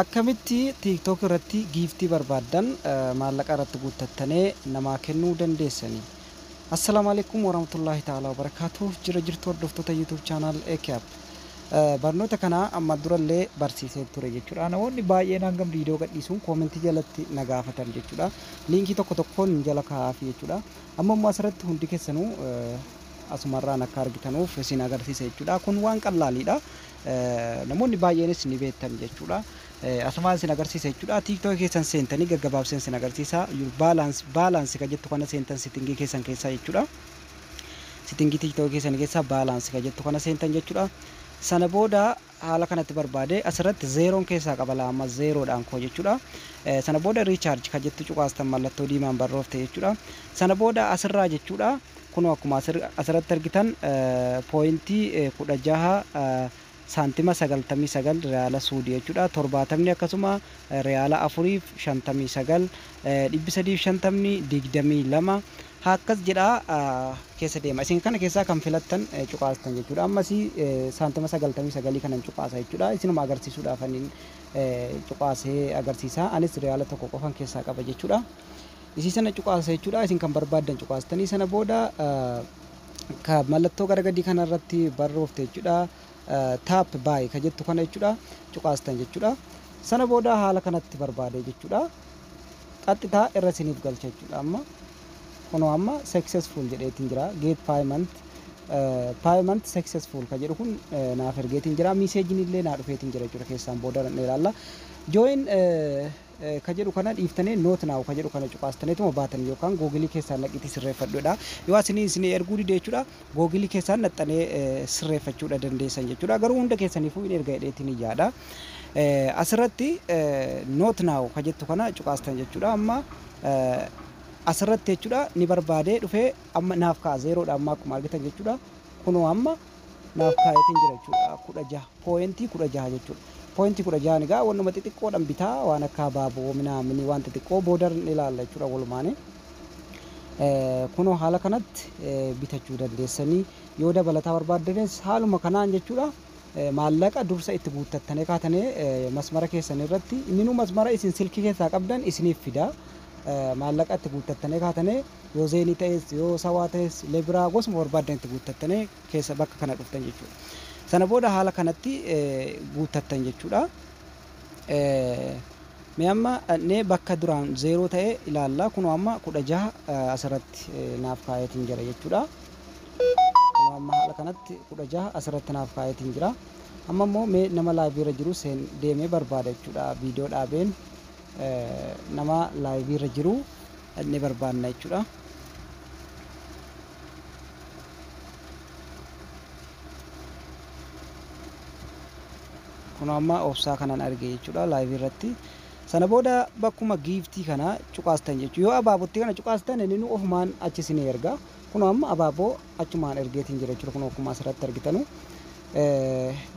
Akkamitti tiktok irratti giiftii barbaaddan maallaqa irratti guuttattanee namaa kennuu dandeessani? Assalaamu alaikum warahmatullahi ta'ala wabarakaatuh jira jirtu hordoftoota YouTube channel AKAP barnoota kana amma durallee barsiisee ture jechuudha namoonni baay'een hangam viidiyoo gadhiisuun koomentii jalatti na gaafatan jechuudha liinkii tokko tokkoon jala kaa'aafi jechuudha amma immoo asirratti hundi keessanuu asumarraan akka argitanuuf isin agarsiisa jechuudha kun waan qallaaliidha namoonni baay'eenis ni beektan jechuudha. Asumaan isin agarsiisa jechuudha. Tiiktookii keessan seentanii gaggabaabseen isin agarsiisa. Your balance balance kan jettu kana seentan sittingii keessan keessaa jechuudha. Sittingii tiiktookii keessan keessaa balance kan jettu kana seentan jechuudha. Sana booda haala kanatti barbaade asirratti zeeroon keessaa qaba laa amma zeeroodhaan koo jechuudha. Sana booda riichaarji kan jettu cuqaastan mallattoo diimaan barroofte jechuudha. Sana booda asirraa jechuudha. Kunoo akkuma asirratti argitan pooyintii 16 saantima 99 riyaala suudi jechuudha. Torbaatamni akkasuma riyaala afuriif 59 350 22 akkas jedha keessa deema. Isin kana keessaa kan filattan cuqaastan jechuudha. Ammas saantima 99 kanan cuqaasa jechuudha. Isinuma agarsiisuudhaaf anin cuqaasee agarsiisa. Anis riyaala tokko qofan keessaa qaba jechuudha. Isii sana cuqaasa jechuudha. Isin kan barbaaddan cuqaastanii sana booda ka mallattoo gara gadii kana irratti barroofte jechuudha. Taap baay ka jettu kana jechuudha. Cuqaastan jechuudha. Sana booda haala kanatti barbaade jechuudha. Qaxxitaa irra isiniif galcha jechuudha. Amma kunoo amma successful jedheetiin jira. Get payment payment successful ka jedhu kun naaf ergeetiin jira. Miseejiin illee naa dhufeetiin jira jechuudha. Keessaan booda ilaalle. Join ka jedhu kana dhiiftanii not now ka jedhu kana cuqaastaniituma baatan yookaan googilii keessaan naqiitii sirreeffadhuudha. Yoo isinii isinii erguu dide jechuudha googilii keessaan naxxanee eh, sirreeffachuudha dandeessan jechuudha. Garuu hunda keessaniifuu hin erga jedheetiin hin yaada. Eh, Asirratti eh, not now ka jettu kana cuqaastan jechuudha. Amma eh, asirratti jechuudha ni barbaadee dhufee amma naaf ka'a zeeroodha amma akkuma argitan jechuudha. Kunoo amma naaf kaayetiin jira jechuudha kudha jaha pooyentii kudha jaha jechuudha pooyentii kudha jahan egaa wannuma xixiqqoodhan bitaa waan akka abaaboo minaamini waan xixiqqoo boodar ni ilaalla jechuudha walumaanii kunoo haala kanatti bitachuu dandeessanii yoo dabalataa barbaaddanis haaluma kanaan jechuudha maallaqa dursa itti guuttattanii kaatanii masmara keessan irratti inni nu masmara isin silkii keessaa qabdan isiniif fida maallaqa itti guuttattanii kaatanii Yoo zeenii ta'es, yoo sawaa ta'es, lebiraa gosuma barbaaddan itti guuttattanii keessa bakka kana dhuftan jechuudha. Sana booda haala kanatti guuttattan jechuudha. Mee amma dhaqnee bakka duraan zeeroo ta'e ilaalla. Kunoo amma kudha jaha asirratti naaf kaa'eetiin jira jechuudha. Kunoo amma haala kanatti kudha jaha asirratti naaf kaa'eetiin jira. Amma immoo mee nama laayivii irra jiru seen deemee barbaada jechuudha. Viidiyoo dhaabeen nama laayivii irra jiru dhaqnee barbaanna jechuudha. Kun amma obsaa kanan arge jechuudha laayivii irratti. Sana booda bakkuma giiftii kana cuqaastan jechuudha. Yoo abaabootti kana cuqaastan inni nu ofumaan achi isin erga. Kun amma abaaboo achumaan ergeetiin jira jechuudha. Kun akkuma asirratti argitanu.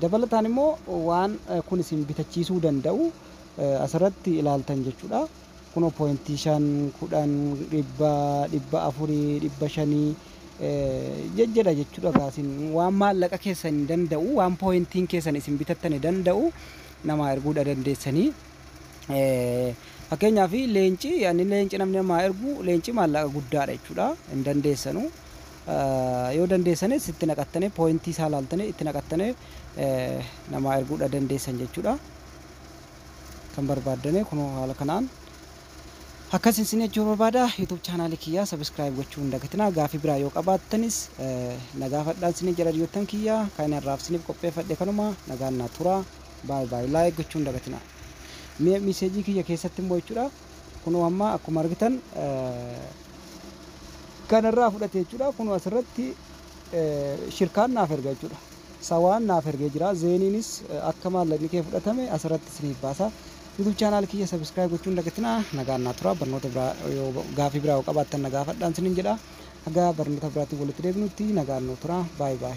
Dabalataan immoo waan kun isin bitachiisuu danda'u asirratti ilaaltan jechuudha. Kunoo pointii shan, kudhan, dhibba, dhibba afurii, dhibba shanii jejjedha jechuudha gaa isin waan maallaqa keessan danda'u waan pointiin keessan isin bitattane danda'u namaa erguudha dandeessanii fakkeenyaaf leenci ani leenci namni namaa ergu leenci maallaqa guddaadha jechuudha hin dandeessanu yoo dandeessanis itti naqattane pointii isaa laaltane itti naqattane namaa erguudha dandeessan jechuudha. kan barbaaddame kunoo haala kanaan akkas isin jechuu barbaada youtube chaanaalii kiyyaa sabiskiraayib gochuu hin dagatinaa gaafii biraa yoo qabaattanis na gaafadhaan isin jedha youttan kiyyaa kan irraaf isiniif qopheeffadhe kanuma nagaan naa turaa baay baay laayik gochuu hin dagatinaa mee miseejii kiyya keessatti immoo jechuudha kunoo amma akkuma argitan kanarraa fudhate jechuudha kunoo asirratti shirkaan naaf erga jechuudha Sawaan naaf ergee jira. Zeeniinis akka maallaqni kee fudhatame asirratti isiniif baasa. YouTube channel kiyya subscribe gochuu hin dagatinaa. Nagaan naa turaa. Barnoota biraa yoo gaafii biraa yoo qabaattan na gaafadhaan isinin jedha. Haga barnoota biraatiin walitti deebinutti nagaan nuu turaa. Bye bye.